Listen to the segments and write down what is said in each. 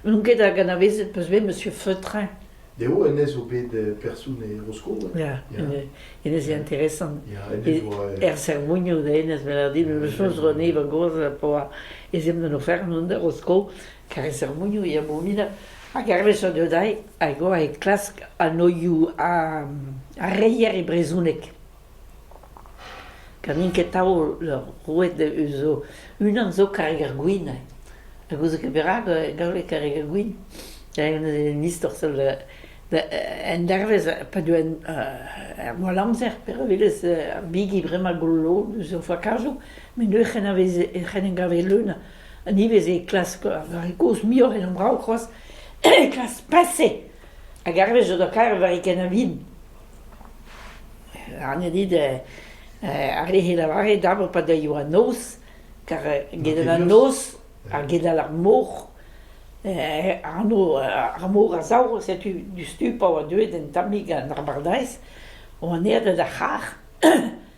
N'on ket hag anavezet peus bet Monsieur Feutrin. Dezho hennezh zo bet person e Bro-Skos. Ya, hennezh eo interesant. Er Servugno da hennezh, me lâr dit, me choñs ro anezhi va gozh pa oa ez emp d'an ofern on da Rosko, kar e Servugno e a Bobina. Hag hervez a deu dezhi, hag oa e klask anoioù ar reier e brezhoneg. Ganin ket taol roet zo unan zo karreg ar gwin ha gouzout ket perak e gavfe karreg ar gwin. An istor zo en dervez pa deu ar mall-amzer pe re welez ar bigi bremañ golo zo fakajoù met neuze c'hen em gave leun ha ivez e klask ar vare kozh muioc'h en hon brav c'hoazh klask paseñ hag hervez zo da karet war e kenañ vin. Arnje dit eh ar re 'c'h eo lavaret dapr pa deuio an noz, kar gedal an noz, ha gedal ar mor, anv ar mor a sav, setu diouzhtu pa oa deuet un tammig an abardaez, oan aet d'ar c'harr.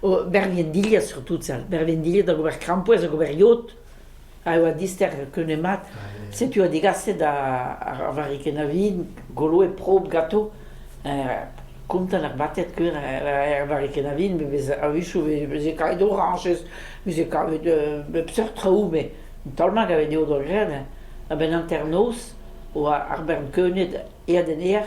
O, bervienn-dilhad surtout sal. Bervienn-dilhad hag ober krampouezh hag ober yod a oa dister keunemat. Setu oa degaset ar varrikenn a vin, goloet prob gato. kontant ar batet keur er varrikenn a vin, me bez a-wichou veze kavet orañjez, veze kavet bep seurt traoù, me taol-mat gavet eo d'o greñv. A-benn hanternoz oa ar bern keunet eat en aer.